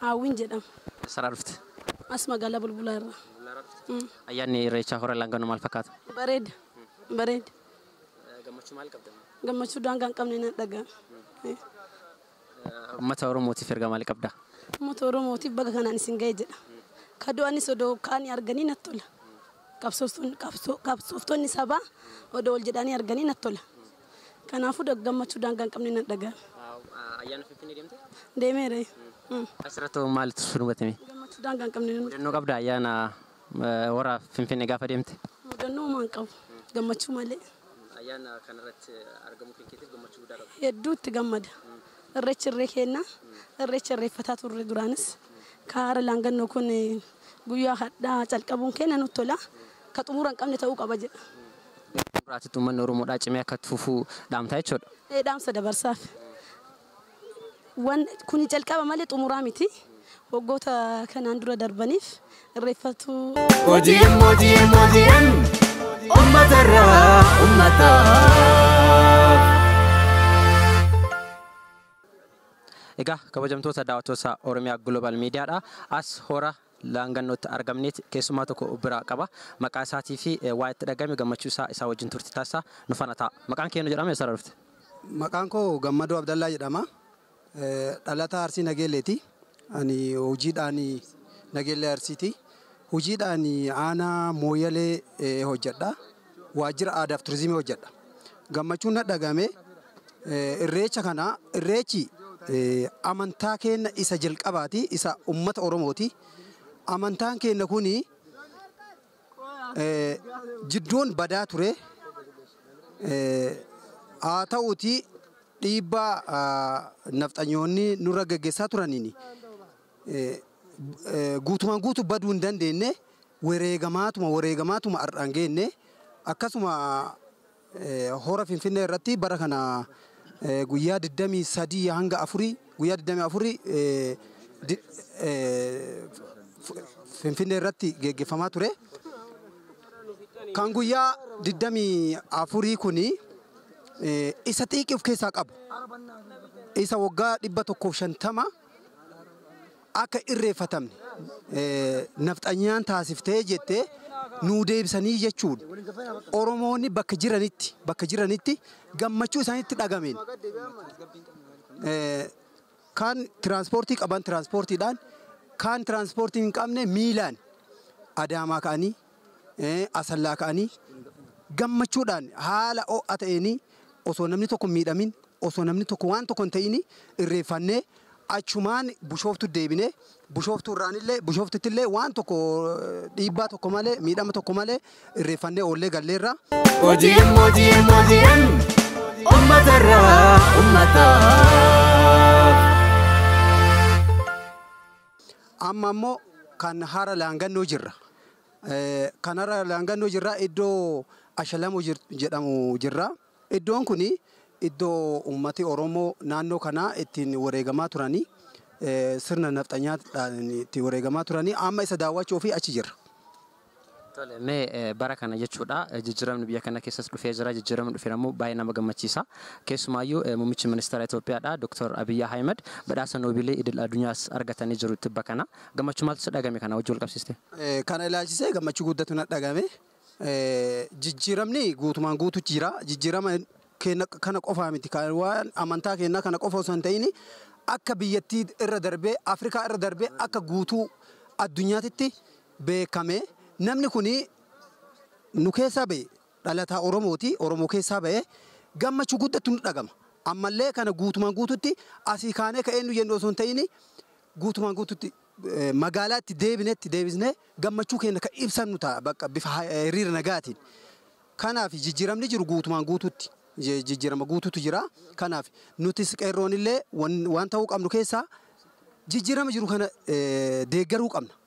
Haawwiin jedhama. Eessarraa dhufte? As magaalaa Bulbulaa irraa. Bulbulaa irraa dhufte? Mm. Ayyaanni Irreechaa Hora Laanganoo maal fakkaata? Bareeda. Bareeda. Gammachuu maal qabda? Gammachuu daangaa hin qabne nan dhagaa. Uummata Oromootiif ergaa maalii qabda? Uummata Oromootiif baga kanaan isin ga'e jedha. Ka du'anis odoo kaanii arganii natti tola. Qabsooftoonni sabaa odoo wal jedhanii arganii natti tola. Kanaafuu da- gammachuu daangaa hin qabne nan dhaga'a. Ayyaana Finfinnee deemte? Deemeera. eh. Mm. Asirratti hoo maaltu si mudatame? Gammachuu daangaa hin qabne nan Mudannoo qabda ayyaana eh, hora Finfinnee gaafa deemte? mudannoo homaa hin qabu. Gammachuu malee. Ayyaana kanarratti argamuu kan keetiif gammachuu guddaa qabda. Hedduu itti gammada. Irreechi irree keenna. Irreecha irreeffataa turre duraanis. Kaara laangannoo kun eh, guyyaa hadhaa calqabuun keenya nutti tola. ka xumura hin qabne ta'uu qaba jedha. Gara xumuraatitti uummanni Oromoodhaa cimee akka itti fufu dhaamta jechuudha? Ee dhaamsa dabarsaaf. Wan kuni jalqaba malee xumuraa miti. Waggoota kanaan dura darbaniif irreeffatuu. OGM OGM OGM ummatarraa ummataaf. Egaa kabajamtoota daawwattoota Oromiyaa Global Miidiyaadha. As hora Laangannootti argamneet keessummaa tokko of biraa qaba. Maqaa isaatii fi waan itti dhagahame gammachuu isaa isaa wajjin turtii taasisa. Nu faana ta'a. Maqaan kee eennu jedhama eessarra dhufte? Maqaan koo Gammadoo Abdallaa jedhama. Dhalataa Arsii Nageelleeti. Ani hojiidhaan Nageellee Arsiiti. Hojiidhaan aanaa Mooyyalee hojjedha. waajjira aadaaf turizimii hojjedha. Gammachuun na dhagame irreecha kana irreechi amantaa keenna isa jalqabaati isa ummata Oromooti. Amantaan keenna kuni jidduun badaa ture. Haa ta'uuti dhiibbaa nafxanyoonni nurra geggessaa turaniin guutumaan guutu baduu hin dandeenne wereegamaatuma wareegamaatuma har'aan geenne akkasuma hora finfinnee irratti bara kana guyyaa 23 hanga 4 guyyaa 24 finfinnee irratti geggeeffamaa ture. Kan guyyaa 24 kuni isa xiiqii of keessaa qabu isa waggaa 150 akka irreeffatamne nafxanyaan taasiftee jettee nuu deebisanii jechuun Oromoonni bakka jiranitti bakka jiranitti gammachuu isaanitti dhagameen kaan tiraanspoortii qaban tiraanspoortiidhaan kaan tiraanspoortii hin qabne miilaan adaamaa ka'anii Asallaa ka'anii gammachuudhaan haala ho'a ta'een osoo namni tokko hin miidhamin, osoo namni tokko waan tokko hin ta'in irreeffannee achumaan Bushooftuutti deebine. Bushooftuurraanillee Bushooftuuttillee waan tokko dhiibbaa tokko malee, miidhama tokko malee irreeffannee oollee galleerra. OGM OGM OGM ummatarraa ummataaf. Amma immoo kan hara laangannoo jirra. Kan hara laangannoo jirraa iddoo Ashalamoo jedhamu jirraa. Iddoon kun iddoo uummati Oromoo naannoo kanaa ittiin wareegamaa turanii sirna nafxanyaadhaan itti wareegamaa turanii amma isa daawwachuuf achi jirra. Tole mee bara kana jechuudha jijjiramni biyya kana keessas dhufee jira jijjiramni dhuferammoo baay'ee nama gammachiisa keessumaayyuu mummichi ministeera Itoophiyaadha Doktar Abiy Ahimad badhaasa noobiilii idil adunyaas argatanii jiru tibba kana gammachuu maaltu si dhagame kana wajji wal qabsiiste? Kana ilaalchisee gammachuu guddatu na dhagame jijjiramni guutumaan guutu jira jijjirama keenya kana qofaa miti kan waan amantaa keenyaa kana qofa osoo hin ta'in akka biyyattii irra darbee Afrikaa irra darbee akka guutuu addunyaatitti beekame. Namni kun nu keessaa ba'e. Dhalataa Oromooti. Oromoo keessaa ba'e. Gammachuu guddattu nutti dhagama. Ammallee kana guutumaan guututti asii kaanee ka eenyu jennu osoo hin ta'in guutumaan guututti magaalaa itti deebinetti deebisnee gammachuu keenya ka ibsannu ta'a bakka bifa hiriira nagaatiin. Kanaaf jijjiiramni jiru guutumaan guututti jijjiirama guututu jira. Kanaaf nutis qeerroonillee waan ta'uu qabnu keessaa jijjiirama jiru kana deeggaruu qabna.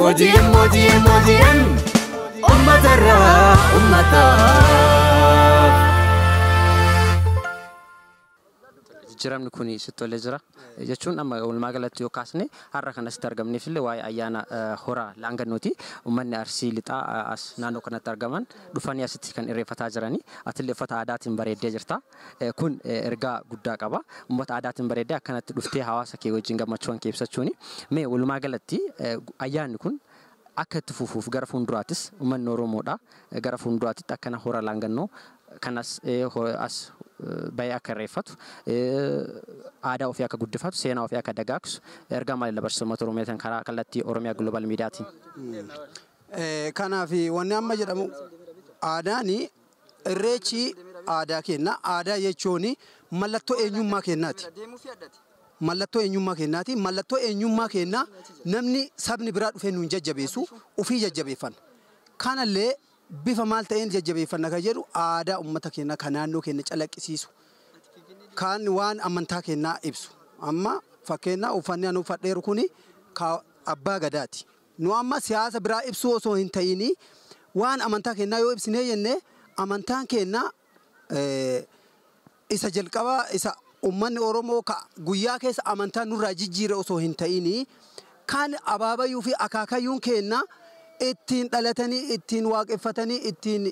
Hojiin hojiin hojiin ummatarraa ummataa. jijjiiramni kun sitti tolee jira jechuun amma walumaa galatti yoo kaasne har'a kan asitti argamneef illee waa'ee ayyaana eh, hora laangannooti uummanni arsii lixaa eh, as naannoo kanatti argaman dhufanii asitti kan irreeffataa jiranii atillee uffata aadaatiin bareeddee jirta Kun ergaa guddaa qaba. Ummata aadaatiin bareeddee akkanatti dhuftee hawaasa kee wajjin gammachuuwan kee ibsachuuni. Mee walumaa galatti ayyaanni kun akka itti fufuuf gara fuulduraattis ummanni Oromoodhaa gara fuulduraatitti akkana Hora Laangannoo kan as as bahee akka irreeffatu, aadaa ofii akka guddifatu, seenaa ofii akka dagaagsu ergaa maalii dabarsita ummata Oromootiin karaa kallattii Oromia Global Media tiin? Kanaaf wanni amma jedhamu aadaani Irreechi aadaa keenna. Aadaa jechuun mallattoo eenyummaa keennaati. Mallattoo eenyummaa keennaati. Mallattoo eenyummaa keennaa namni, sabni biraa dhufee nuun jajjabeessu ufii jajjabeeffanna. Kanallee bifa maal ta'een jajjabeeffanna kan jedhu aadaa ummata keennaa ka naannoo keenna calaqqisiisu, kaan waan amantaa keennaa ibsu. Amma fakkeenna uffanni ani uffadheeru kuni ka Abbaa Gadaati. Nu amma siyaasa biraa ibsuu osoo hin ta'iini waan amantaa keennaa yoo ibsinee jenne amantaan keenna isa jalqabaa isa ummanni Oromoo ka guyyaa keessa amantaa nurraa jijjiire osoo hin ta'iini kan abaabayuu fi akaakayyuun keenna ittiin dhalatanii, ittiin waaqeffatanii, ittiin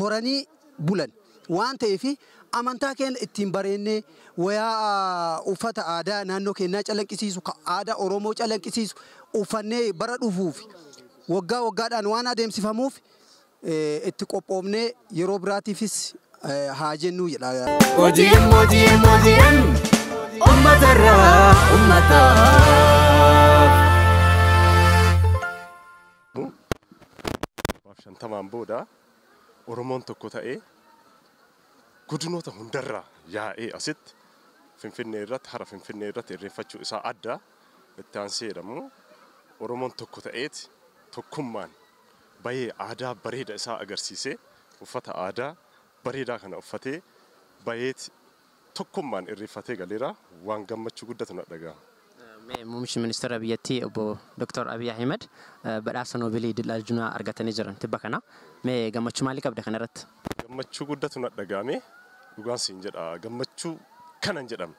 horanii bulan waan ta'eef amantaa keenya ittiin bareennee wayaa uffata aadaa naannoo keenyaa calanqisiisu ka aadaa Oromoo calanqisiisu uffannee bara dhufuuf waggaa waggaadhaan waan adeemsifamuuf itti qophoofnee yeroo biraatiifis haa jennuu jedha. OGM OGM OGM ummatarraa ummataaf. Maaf shantamaan booda Oromoon tokko ta'ee godinoota hundarraa yaa'ee asitti Finfinnee irratti hara Finfinnee irratti irreeffachuu isaa adda itti aansee jedhamu Oromoon tokko ta'eeti tokkummaan bayee aadaa bareeda isaa agarsiisee uffata aadaa bareedaa kana uffatee bayeeti tokkummaan irreeffatee galeera. Waan gammachuu guddatu na dhagahama. Mee Muummichi Ministeera biyyattii Obbo Doktar Abiy Ahimad badhaasa Noobelii Idil Aljunaa argatanii jiran tibba kana. Mee gammachuu maalii qabda kana irratti? Gammachuu guddatu na dhagahame. Dhugaan siin jedha gammachuu kana hin jedhamne.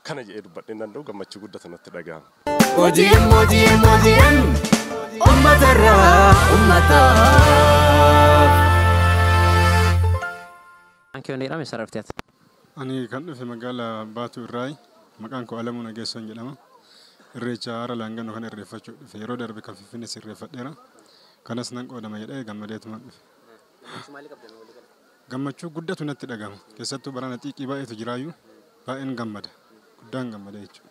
Kana jedhee dubbadhee hin danda'u gammachuu guddatu natti dhagahama. OGM OGM OGM Ummatarraa Ummataaf. Maqaan kee Onneedhaam eessaarraa dhufte ati? Ani kan dhufe magaala Baatuu irraayi. Maqaan koo Alamuu Nageessoon jedhama. Irreecha Hara Laanganoo kana irreeffachuuf dhufe. Yeroo darbe kan Finfinnees irreeffadheera. Kanas nan qoodama jedhee gammadeetuman dhufe. Gammachuu maalii qabda mee walii gala? Gammachuu guddatu natti dhagahama. Keessattuu barana xiiqii baay'eetu jiraayyuu baay'een gammada. Guddaan gammada jechuudha.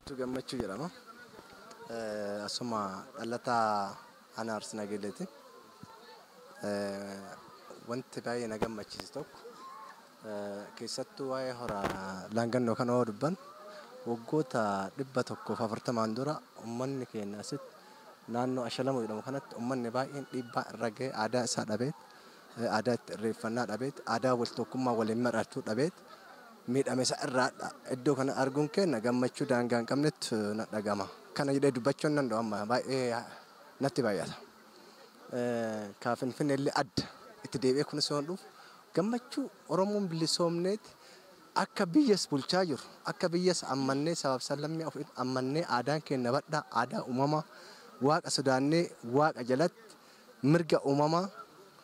Guutuu Gammachuu jedhama. Eh, Asuma dhalataa Aanaa Arsii Nageelleeti. Eh, Wanti baay'ee na gammachiise tokko eh, keessattuu waa'ee hora laangannoo kana yoo dubban waggoota dhibba tokkoof afurtamaan dura uummanni keenya asitti naannoo Ashalamuu jedhamu kanatti uummanni baay'een dhiibbaa irra ga'ee aadaa isaa dhabee aadaa itti irreeffannaa dhabeet, aadaa wal tokkummaa waliin mar'atu dhabeet miidhame isa irraadha. Iddoo kana arguun keenna gammachuu daangaa hin qabnetu nat dhaga'ama. Kana jedhee dubbachuu hin danda'u amma baay'ee natti baay'ata. Ka Finfinnee illee adda. Itti deebi'ee kunis yoon dhufu gammachuu Oromoon bilisoomneet akka biyyas bulchaa jiru, akka biyyas ammannee sabaaf sablammii of ammannee aadaan keenna badhaa, aadaa uumamaa, Waaqa sodaannee Waaqa jalatti Mirga uumamaa,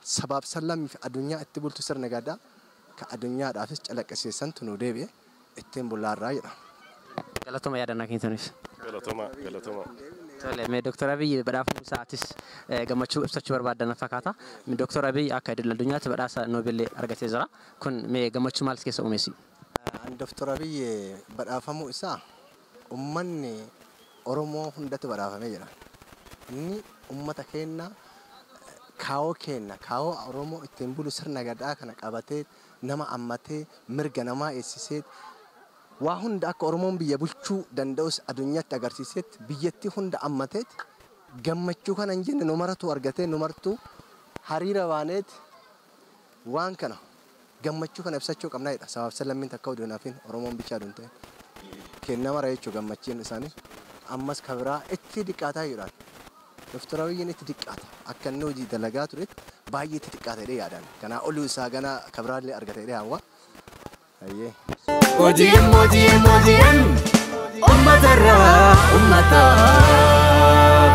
sabaaf sallammii fi adunyaa itti bultu sirni Gadaa ka adunyaadhaafis calaqqisiise santu nuu deebi'e ittiin bullaarraa jedha. Galatoma yaadannoo keessaniif. Galatoma galatoma. Tole, mee Dr. Abiy badhaafamuu isaa atis gammachuu ibsachuu barbaadda na fakkaata. Dr. Abiy akka idil addunyaatti badhaasa Nobel argatee jira. Kun mee gammachuu maal si keessa uume si? Ani Dr. Abiy badhaafamuu isaa Ummanni Oromoo hundatu badhaafame jira. Inni ummata keenna kaawoo keenna, kaawoo Oromoo ittiin bulu sirna Gadaa kana qabatee, nama ammatee, mirga namaa eegsisee, waa hunda akka Oromoon biyya bulchuu danda'us adunyatti agarsiiseeti, biyyattii hunda ammateeti, gammachuu kana hin jenne nu maratuu argatee nu martuu hariira baaneeti Waan kana, gammachuu kana ibsachuu qabna jechuudha. Sabaaf sablammiin takka utuu hin hafin, Oromoon bichaa utuu hin ta'in. Keenna mara jechuudha gammachiin isaanii. Ammas ka biraa itti diqqaataa jechuudhaan. Dr. Abiyyiin itti diqqaata. Akka inni hojii dalagaa turetti baay'ee itti xiqqaata jedhee yaada ani. Kanaa ol isaa ganaa ka biraa illee argata jedhee hawwa. Hayyee. OGM, OGM, OGM, ummatarraa ummataaf.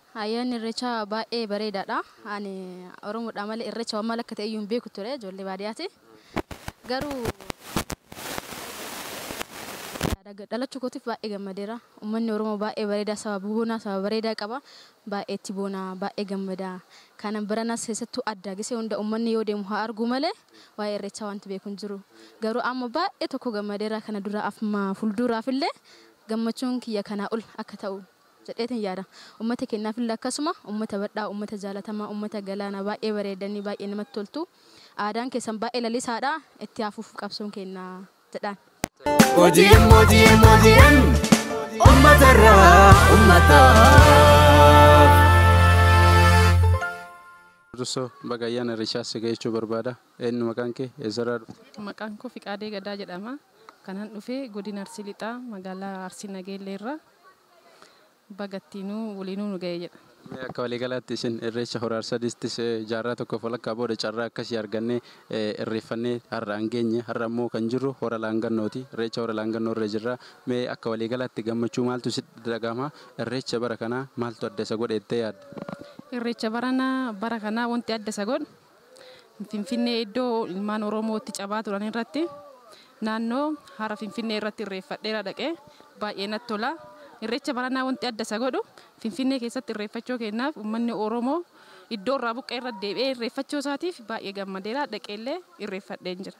Ayyaanni irreechaa baay'ee bareedaadha. Ani Oromoodha malee irreecha waan maal akka ta'e iyyuu hin beeku ture ijoollee baadiyaati. Garuu dhalachuu kootiif baay'ee gammadeera. Uummanni Oromoo baay'ee bareedaa saba boonaa saba bareedaa qaba. Baay'ee itti boonaa baay'ee gammadaa. Kanan baranas keessattuu addaa gisee hunda uummanni yoo deemu haa arguu malee waa'ee irreechaa wanti beeku hin jiru. Garuu amma baay'ee tokko gammadeera kana dura amma fuulduraaf illee gammachuun kiyya kanaa ol akka ta'u jedheetin yaada. Ummata keennaafillee akkasuma. Ummata badhaa, ummata jaalatamaa, ummata galaana, baay'ee bareeddanii, baay'ee namatti toltu. Aadaan keessan baay'ee lalisaadha. Itti haa fufu qabsoon keenna jedhaan. OGM OGM OGM Ummatarraa Ummataaf. Dursoo baga ayyaana irreechaa si ga'e jechuu barbaada. Eenyu maqaan kee? Eessarraa dhufte? Maqaan koo Fiqaadee Gadaa jedhama. Kanan dhufe godina Arsii Lixaa magaalaa Arsii Nageellee irraa. Baga ittiinuu waliinuu nu ga'e jedha. Mee akka waliigalaatti isin Irreecha Hora Harsadittis jaarraa tokkoof walakkaa booda carraa akkasii argannee irreeffannee har'aan geenye. Har'a immoo kan jirru Hora Laangannooti. Irreecha Hora Laangannoo irra jirra. Mee akka waliigalaatti gammachuu maaltu sitti dhagahama? Irreecha bara kanaa maaltu adda isa godhe jettee yaadda? Irreecha baranaa bara kanaa wanti adda isa godhu. Finfinnee iddoo ilmaan Oromoo itti cabaa turan irratti naannoo hara Finfinnee irratti irreeffadheera dhaqee baay'ee natti tola. Irreecha baranaa wanti adda isa godhu Finfinnee keessatti irreeffachoo keenyaaf ummanni Oromoo iddoo irraa buqqa'e irra deebi'ee irreeffachoo isaatiif baay'ee gammadeera dhaqeellee irreeffadheen jira.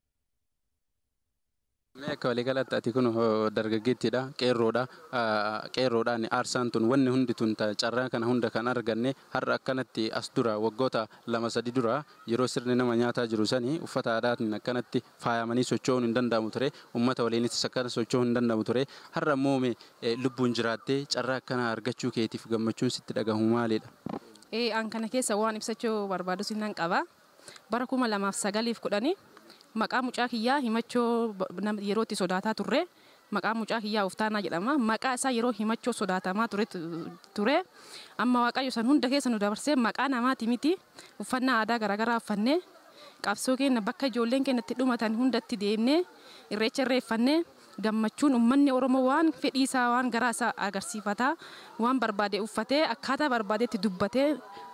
Mee akka waliigalaatti ati kun dargaggeettiidha, qeerroodha. Qeerroodhaan aarsaan tun wanni hundi tun carraa kana hunda kan arganne har'a akkanatti as dura waggoota lama sadi dura yeroo sirni nama nyaataa jiru sani uffata aadaatiin akkanatti faayamanii socho'uun hin danda'amu ture. Ummata waliinis akkana socho'uun hin danda'amu ture. Har'a immoo mee lubbuun jiraattee carraa akkanaa argachuu keetiif gammachuun sitti dhagahamu maalidha? Ee an kana keessa waan ibsachuu barbaadus nan qaba. Bara 2009 fi 10 maqaa mucaa kiyyaa Himachoo nama yeroo itti sodaataa turre. Maqaan mucaa kiyyaa Oftaanaa jedhama. Maqaa isaa yeroo Himachoo sodaatamaa ture ture. Amma Waaqayyo san hunda keessa nu dabarsee maqaa namaati miti uffannaa aadaa garaagaraa uffannee qabsoo keenna bakka ijoolleen keenna itti dhumatan hundatti deemnee irreecha irreeffannee gammachuun ummanni Oromoo waan fedhii isaa, waan garaa isaa agarsiifataa, waan barbaade uffatee, akkaataa barbaadetti dubbatee,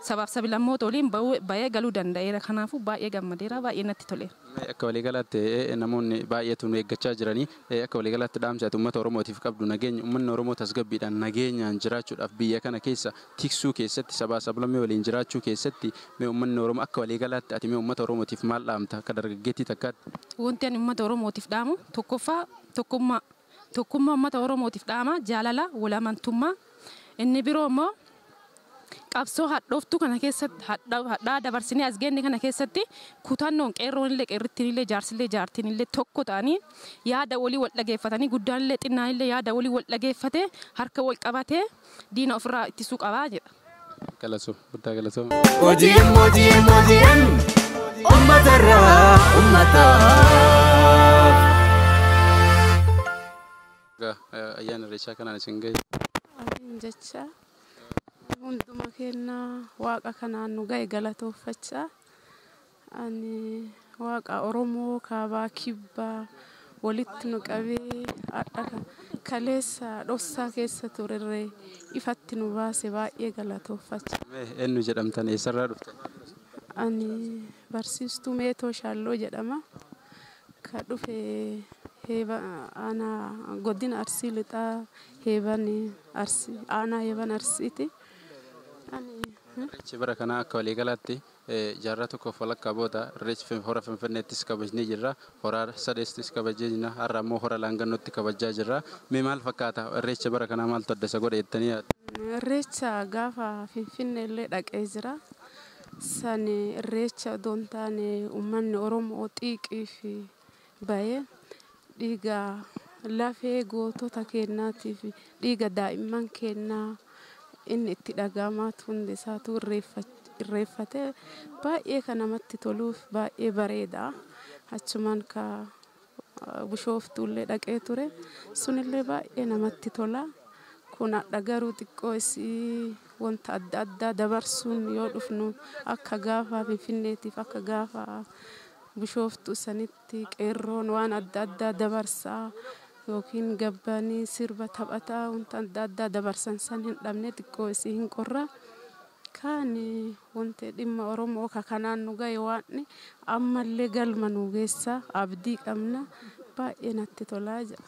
sabaaf sabilammoota waliin ba'ee galuu danda'eera. Kanaafuu baay'ee gammadeera, baay'ee natti toleera. Mee akka waliigalaatti namoonni baay'eetu nu eeggachaa jirani. Akka waliigalaatti dhaamsi ati ummata Oromootiif qabdu nageenyi, ummanni Oromoo tasgabbiidhaan, nageenyaan jiraachuudhaaf biyya kana keessa tiksuu keessatti, sabaa sablammii waliin jiraachuu keessatti mee ummanni Oromoo akka walii galaatti ati mee ummata Oromootiif maal dhaamta akka dargaggeettii takkaatti? Wanti ani ummata Oromootiif dhaamu tokkoffaa tokkummaa tokkummaa ummata Oromootiif dhaama, jaalala, wal amantummaa. Inni biroo immoo qabsoo hadhooftuu kana keessatti hadha hadhaa dabarsinee as geenne kana keessatti kutannoon qeerroon illee qeerrittiin illee jaarsi illee jaartiin illee tokko ta'anii yaada walii wal dhageeffatanii guddaan illee xinnaan illee yaada walii wal dhageeffatee harka wal qabatee diina ofirraa ittisuu qaba jedha. Galasu guddaa galatooma. OGM OGM OGM ummatarraa ummataaf. Egaa eh, ayyaana irreechaa kanaan isin ga'e. Amin jecha hunduma keenya waaqa kanaan nu ga'e galatoofachaa Ani Waaqa Oromoo kaabaa kibbaa walitti nu qabee hadha kaleessa dhossaa keessa turerree ifatti nu baase baay'ee galatooffachaa. Mee eennu jedhamtan eessarraa dhuftan? Ani barsiistuu Meetoo Shaalloo jedhama. Ka dhufe heeba aanaa godina Arsii lixaa heeban Arsii aanaa heeban Arsiiti. Ani Irreechi bara kanaa akka waliigalaatti Jaarraa tokkoof walakkaa booda Irreechi Hora Finfinneettis kabajnee jirra. Hora Arsadeettis kabajnee jirra. Har'a ammoo Hora Laangannootti kabajjaa jirra. Mee maal fakkaata? Irreecha bara kanaa maaltu adda isa godha jettanii yaaddu? Irreecha gaafa Finfinneellee dhaqee jira. San Irreecha odoo hin taane ummanni Oromoo xiiqiifi baye dhiiga lafee gootota keennaatiif dhiiga daa'imman keennaa inni itti dhaga'amaa hundi isaatuu irreeffate baay'ee kan namatti toluuf baay'ee bareeda achumaan ka bushooftuullee dhaqee ture sunillee baay'ee namatti tola kun hadha garuu xiqqoo isii wanta adda addaa dabarsuun yoo dhufnu akka gaafa finfinneetiif akka gaafa Bishooftuu sanitti qeerroon waan adda addaa dabarsaa yookiin gabbanii sirba taphataa wanta adda addaa dabarsan san hin dhabne xiqqoo isii hin qorraa. Kaan wanti dhimma Oromoo ka kanaan nu gahe waan ammallee galma nu geessaa abdii qabna baay'ee natti tolaa jedha.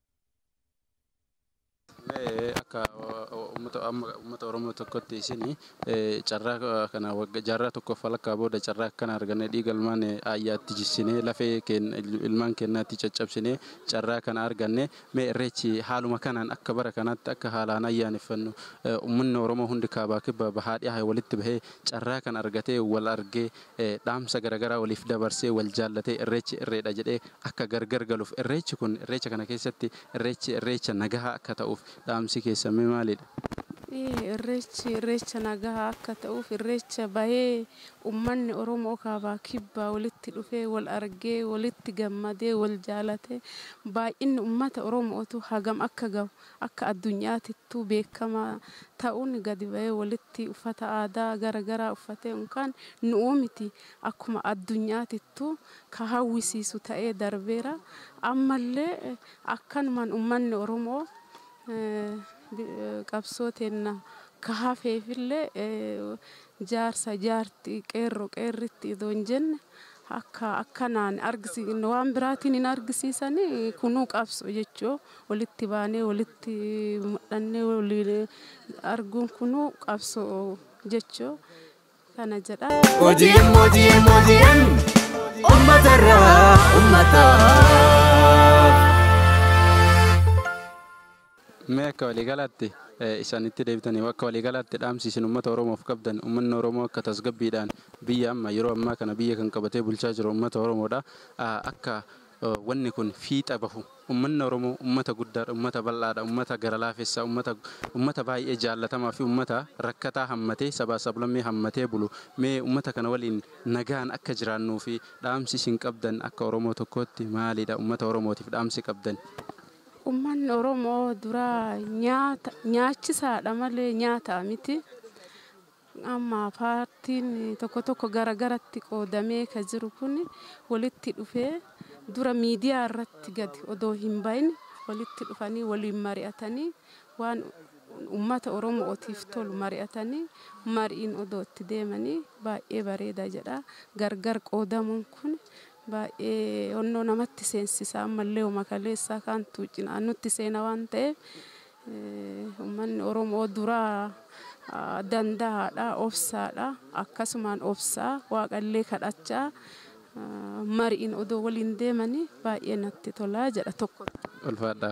akka uummata Oromoo tokkotti isin carraa kana jaarraa tokkoof walakkaa booda carraa akkana arganne dhiiga ilmaan ayyaatti jissinee lafee ilmaan keenyaatti caccabsinee carraa kana arganne mee irreechi haaluma kanaan akka bara kanaatti akka haalaan ayyaaneffannu uummanni Oromoo hundi kaabaa kibba bahaa dhihaa walitti bahee carraa kana argatee wal argee dhaamsa garagaraa waliif dabarsee wal jaallatee irreechi irreedha jedhee akka gargar galuuf irreechi kun irreecha kana keessatti irreechi irreecha nagahaa akka ta'uuf dhaamsi keessan mee maalidha? Irreechi irreecha nagahaa akka ta'uuf irreecha bahee ummanni Oromoo kaabaa kibbaa walitti dhufee wal argee walitti gammadee wal jaalatee baay'inni ummata Oromootu hagam akka gahu Akka addunyaatittuu beekkama ta'uun gadi ba'ee walitti uffata aadaa gara garaa uffatee unkaan nu'uu miti akkuma addunyaatittuu ka hawwisiisu ta'ee darbeera. Ammallee akkanumaan ummanni Oromoo qabsoo teenna ka hafeefillee Jaarsa, jaartii, qeerro, qeerrittii otoo hin jenne akka akkanaan argisiisne waan biraatiin hin argisiisani kunuu qabso jechuu walitti baanee walitti mudhannee waliin arguun kunuu qabso jechuu kana jedha. OGM OGM OGM ummata irraa ummataaf. Mee akka waliigalaatti isaanitti deebitanii akka waliigalaatti dhaamsi isin ummata Oromoof qabdan ummanni Oromoo akka tasgabbiidhaan biyya amma yeroo ammaa kana biyya kan qabatee bulchaa jiru ummata Oromoodha. Akka wanni kun fiixa bahu ummanni Oromoo ummata guddaadha, ummata bal'aadha, ummata gara laafessa, ummata ummata baay'ee jaallatamaa fi ummata rakkataa hammatee sabaa sablammii hammatee bulu. Mee ummata kana waliin nagaan akka jiraannuu fi dhaamsi isin qabdan akka Oromoo tokkootti maalidha? Ummata Oromootiif dhaamsi qabdan. Ummanni Oromoo duraa nyaata nyaachisaadha malee nyaataa miti. Amma paartiin tokko tokko gara garatti qoodamee ka jiru kun walitti dhufee dura miidiyaa irratti gadi odoo hin bahin walitti dhufanii waliin mari'atanii waan ummata Oromootiif tolu mari'atanii mariin odoo itti deemanii baay'ee bareeda jedha. Gargar qoodamuun kun Baay'ee onnoo namatti seensisa. Ammallee homa kaleessaa kaantu cinaan nutti seena waan ta'eef ummanni Oromoo duraa danda'aadha, obsaadha. Akkasumaan obsaa Waaqallee kadhachaa mariin odoo waliin deemanii baay'ee natti tola jedha tokko tokko. Ulfaadhaa.